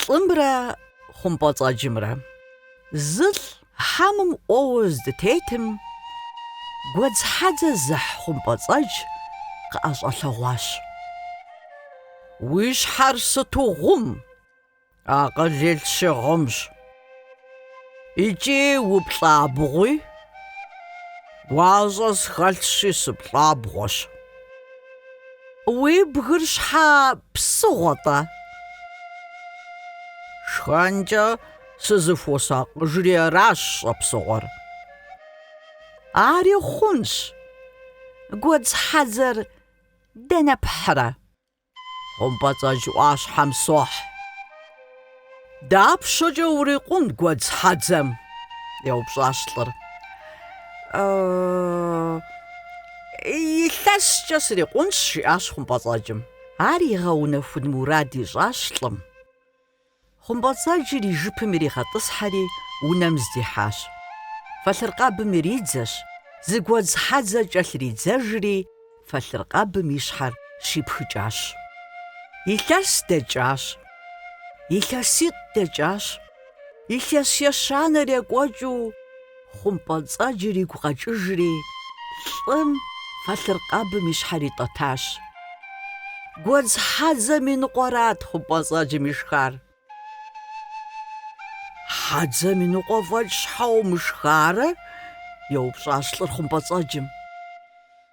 Лӏымрэ хъумпӏэцӏэджымрэ. Зы лӏ хьэмым ӏуэуэ здытетым, гуэдз хьэдзэ зыхь хъумпӏэцӏэдж къыӏэщӏэлъэгъуащ. Уи щхьэр сыту гъум! Акъыл илъщи гъумщ. Икӏи уплӏабгъуи? Гуащӏэ схэлъщи, сыплӏабгъуэщ. Уи бгыр щхьэ псыгъуэ-тӏэ? Шхэнкӏэ сызыхуосакъыжри аращ щӏэпсыгъуэр. Ари хъунщ. Гуэдз хьэдзэр дэнэ пхьрэ? Хъумпӏэцӏэдж ӏуащхьэм сохь. Дапщэкӏэ урикъун гуэдз хьэдзэм? еупщӏащ лӏыр. Илъэскӏэ срикъунщ, жиӏащ хъумпӏэцӏэджым. Ар игъэунэхун мурад ищӏащ лӏым. Хъумпӏэцӏэджыр и жыпым иригъэтӏысхьэри, унэм здихьащ. Фэлъыркъэбым иридзэщ, зы гуэдз хьэдзэ кӏэлъридзэжри, фэлъыркъэбым и щхьэр щипхыкӏащ. Илъэс дэкӏащ. Илъэситӏ дэкӏащ. Илъэс ещанэр екӏуэкӏыу. Хъумпӏэцӏэджыр игу къэкӏыжри, лӏым фэлъыркъэбым и щхьэр итӏэтащ. Гуэдз хьэдзэм и ныкъуэрат хъумпӏэцӏэджым ишхар. Хьэдзэм и ныкъуэ фӏэкӏ щхьэ умышхарэ? еупщӏащ лӏыр хъумпӏэцӏэджым.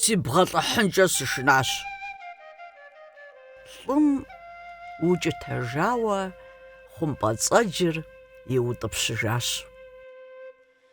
Сибгъэлӏыхьынкӏэ сышынащ. Лӏым укӏытэжауэ хъумпӏэцӏэджыр иутӏыпщыжащ.